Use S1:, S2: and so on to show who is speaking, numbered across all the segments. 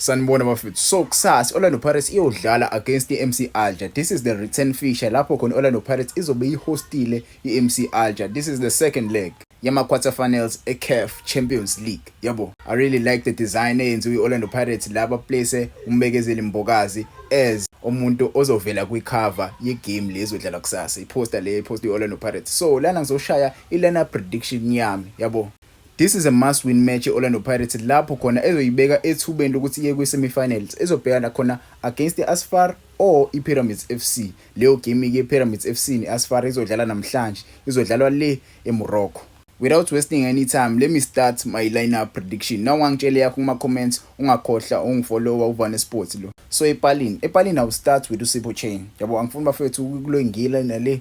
S1: sanibona bafethu so kusasa orlando pirates iyodlala against i-mc alger this is the return fisher lapho khona i-orlando pirates izobe ihostile i-mc alger this is the second leg yama-quarter finals ecaf champions league yabo i really like the design eyenziwe i-orlando pirates la baplace umbekezeli mbokazi as umuntu ozovela kwikhava yegame le ezodlala kusasa iphosta le iphosta i-orlando pirates so lana ngizoshaya i-liner prediction yami yabo This is a must win match e-Orlando Pirates lapho khona ezoyibeka ethubeni lokuthi iye kwi-semifinals ezobhekana khona against i-Asfar or i-Pyramids FC. Leyo game-ke i-Pyramids FC ne-Asfar izodlala namhlanje, izodlalwa le eMorocco. Without wasting any time, let me start my lineup prediction. Naw ungangitshela yakho kuma-comments, ungakhohla ungifollowa uVane Sports lo. So epalini, epalini I will start with uSipho Chain. Yabo angifuni bafethu ukulwengila nale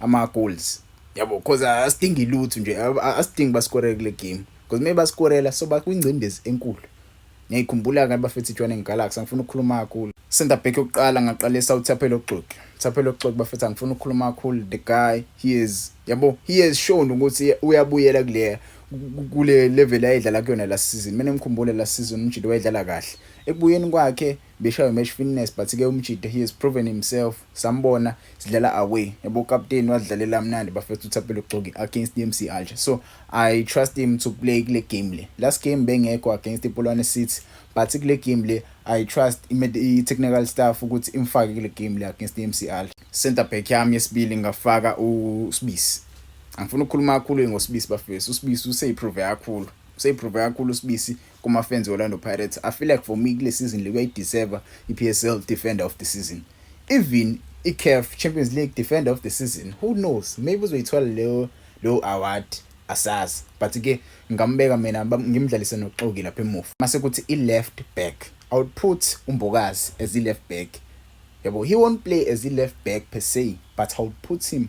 S1: ama goals yabo because asidingi lutho nje asidingi basikore kule game because maybe basikorela so bakwingcindezi enkulu ngiyikhumbula ke bafethu iJwaneng Galaxy angifuna ukukhuluma kakhulu center back yokuqala ngaqalisa uThaphelo Oxoki Thaphelo Oxoki bafethu angifuna ukukhuluma kakhulu the guy he is yabo he has shown ukuthi uyabuyela kule kule level ayedlala kuyona last season mina ngikhumbule last season umjilo wayedlala kahle ekubuyeni kwakhe Beshaywe match fitness but ke umjita he has proven himself sambona sidlala away yabo captain wadlalela mnandi bafethu uthapelo gcoki against DMC Alger so I trust him to play kule game le last game bengekho against iPolwane City but kule game le I trust i technical staff ukuthi imfake kule game le against DMC Alger center back yami yesibili ngafaka uSibisi angifuni ukukhuluma kakhulu ngosibisi bafethu usibisi useyiprove kakhulu useyiprove kakhulu usibisi kumafans Orlando Pirates. I feel like for me kule season le kuyayideserve iPSL defender of the season. Even iCAF Champions League defender of the season. Who knows? Maybe uzoyithola leyo leyo award asazi. But ke ngambeka mina ngimdlalise noxoki lapha emuva. Mase kuthi ileft back. I would put uMbokazi as ileft back. Yabo he won't play as ileft back per se, but I would put him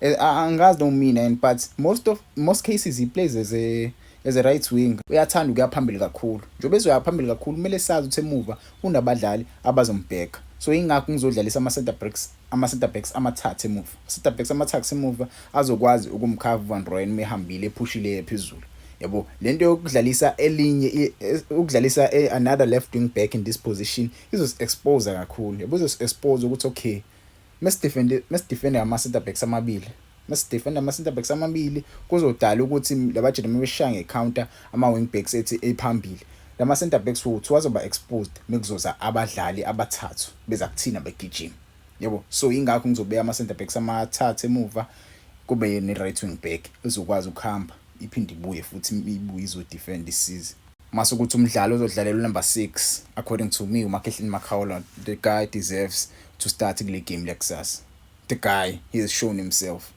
S1: Eh, angazi no mina and but most of most cases he plays as a as a right wing uyathanda ukuya phambili kakhulu njengoba ezoya phambili kakhulu kumele sazi ukuthi emuva unabadlali abazombheka so ingakho ngizodlalisa ama-center backs ama-center backs amathathu emuva center backs amathathu emuva azokwazi ukumkhava uvan royen uma ehambile ephushile phezulu yabo le nto yokudlalisa elinye e, ukudlalisa e, another left wing back in this position izos-expose kakhulu yabo izos-expose ukuthi okay mesidefende mesidefende ama center backs amabili mesidefenda ama center backs amabili kuzodala ukuthi labajele mebeshaya nge counter ama wing backs ethi ephambili lama center backs wethu wazoba exposed mekuzoza abadlali abathathu beza kuthina begijima yebo so ingakho ngizobeka ama center backs amathathu emuva kube ne right wing back ezokwazi ukuhamba iphinde ibuye futhi ibuye izodefend isize mase ukuthi umdlali ozodlalela unumber 6 according to me umakhehleni makhaola the guy deserves to start kule game lekusasa the guy he has shown himself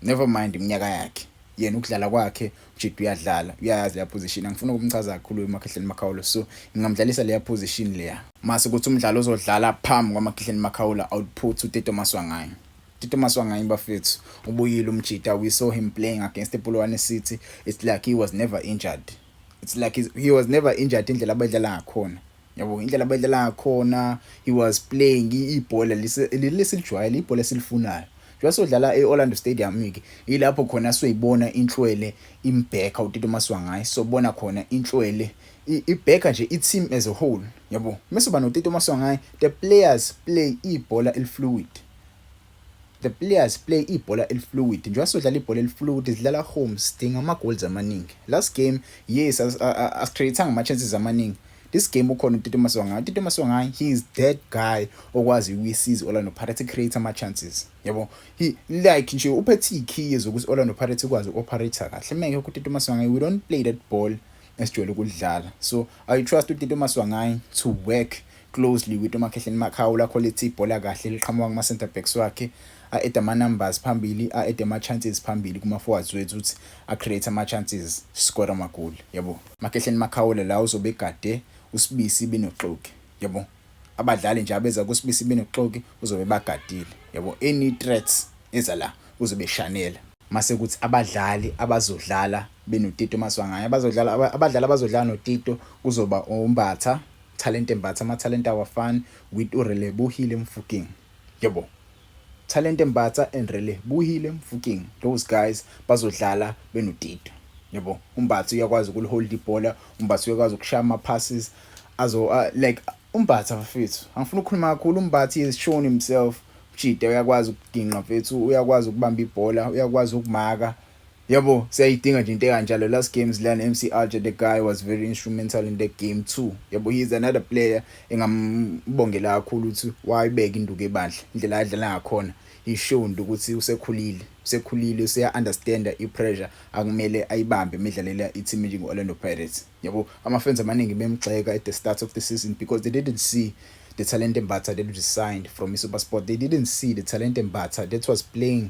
S1: never mind iminyaka yakhe yena ukudlala kwakhe ujid uyadlala uyayazi leya position angifuna ukumchaza kakhulu umakhehleni makhaola so ngingamdlalisa leya position leya mase ukuthi umdlali ozodlala phambi kwamakhehleni makhaola output uteto maswangayo Tito Maswanganyi bafethu ubuyile umjita we saw him playing against Polokwane City it's like he was never injured it's like he was never injured indlela abadlala ngakhona yabo indlela abadlala ngakhona he was playing ibhola lesilijwayele ibhola esilifunayo njengoba sodlala e-Orlando Stadium ke yilapho khona soyibona inhlwele imbheka uTito Maswanganyi sobona khona inhlwele ibheka nje i-team as a whole yabo mase uba noTito Maswanganyi the players play ibhola elifluid The players play ibhola elifluid njengoba sodlala ibhola elifluid sidlala home sidinga ama goals amaningi last game yes asicreatanga ama chances amaningi this game ukhona uTito Maswangayi uTito Maswangayi he is that guy okwazi ukuyisiza Orlando Pirates create ama chances yabo he like nje uphethe ikey zokuthi Orlando Pirates ikwazi uoperate kahle meke uTito Maswangayi we don't play that ball esijwayele ukulidlala so i trust utito maswangayi to work closely with umakhehleni makhawula quality ibhola kahle liqhamuka kuma center backs wakhe a-ede ama-numbers phambili a-ede ama-chances phambili kuma-forwards wethu ukuthi a-create ama-chances score amagoli yabo makhehleni makhawula la uzobe egade usibisi binoxoki yabo abadlali nje abeza kuSibisi benoxoki uzobe bagadile yabo any threats eza la uzobe shanela mase kuthi abadlali abazodlala benoTito Maswangaye abazodlala abadlali abazodlala noTito kuzoba uMbatha Talente Mbatha amathalente awafani with uRelebuhile Mfokeng yebo Thalente Mbatha and Relebohile Mofokeng those guys bazodlala benoTito yabo. UMbatha uyakwazi ukulihold ibhola, uMbatha uyakwazi ukushaya ama passes azo uh, like uMbatha mfethu. Angifuni ukukhuluma kakhulu uMbatha is shown himself. Mjida uyakwazi ukugingqa mfethu, uyakwazi ukubamba ibhola, uyakwazi ukumaka. Yabo siyayidinga nje into ekanjalo last game zilana MC Alger the guy was very instrumental in the game too yabo he is another player engambongela kakhulu ukuthi wayibeka induku ebandla indlela adlala ngakhona he showed ukuthi usekhulile usekhulile useya understand i pressure akumele ayibambe imidlalela i team njengo Orlando Pirates yabo ama fans amaningi bemgxeka at the start of the season because they didn't see the talent embatha that was signed from iSuperSport they didn't see the talent embatha that was playing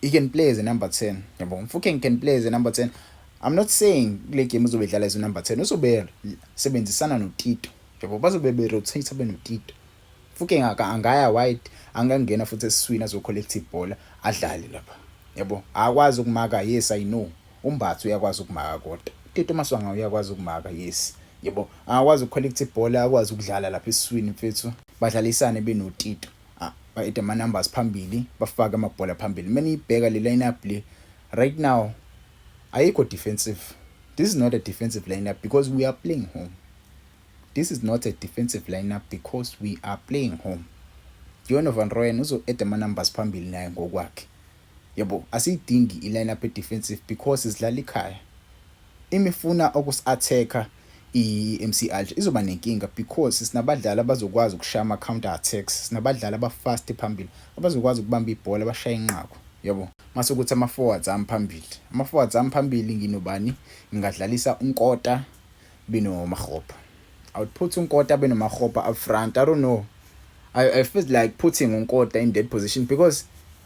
S1: He can play as a number 10. Yabo, Mfokeng can play as a number 10. I'm not saying kule game uzobe edlala as a number 10. Uzobe sebenzisana noTito. Yabo, bazobe be rotate abe noTito. Mfokeng aka angaya wide, angangena futhi eswina zo collect ibhola adlale lapha. Yabo, akwazi ukumaka. Yes, I know. Umbathu uyakwazi ukumaka kodwa. Tito Maswanga uyakwazi ukumaka. Yes. Yabo, akwazi ucollect ibhola, akwazi ukudlala lapha eswini mfethu. Badlalisane benotito. Ah, bayede ama numbers phambili, bafake amabhola phambili. Uma niyibheka le lineup le right now ayikho defensive. This is not a defensive lineup because we are playing home. This is not a defensive lineup because we are playing home. Dion van Rooyen uzo add ama numbers phambili naye ngokwakhe. Yebo asiyidingi i line up e defensive because sidlala ikhaya. Im ifuna okus attacker i MC Alger izoba nenkinga because sinabadlali abazokwazi ukushaya ama counter attacks, sinabadlali aba fast phambili abazokwazi ukubamba ibhola bashaye inqaku. Yabo. Mase kuthi ama forwards ami phambili. Ama forwards ami phambili nginobani? Ngingadlalisa uNkota beno Makgopa. I would put uNkota beno Makgopa up front. I don't know. I, I feel like putting uNkota in that position because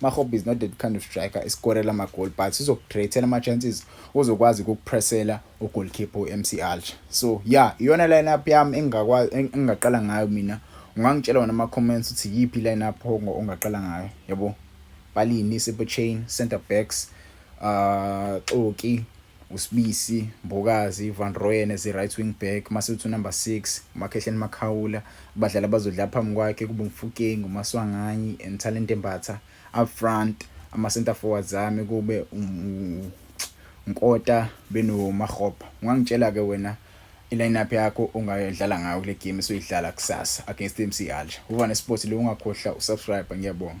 S1: Mahope is not that kind of striker eskorela amagol but sizokukreatela ama-chances uzokwazi ukukupressela ugolkeeper u-mc alger so ya yeah, iyona line-up yami engingaqala ngayo mina ungangitshela wona ama-comments ukuthi yiphi i-line-up ongaqala ngayo yabo balini sepechain center backs uh xoki uSibisi Mbokazi, uVan Rooyen as i-right wing back, mase uthi unumber six uMakhehleni Makhawula. Abadlali abazodlala phambi kwakhe kube uMfukeng, uMaswanganyi and Talente Mbatha. Up front ama-centre forwards ami kube uNkota benoMarhopa. Ungangitshela-ke wena i-lineup yakho ongayodlala ngayo kule game esoyidlala kusasa against i-MC Alger. UVane Sports le ungakhohlwa usubscribe ngiyabonga.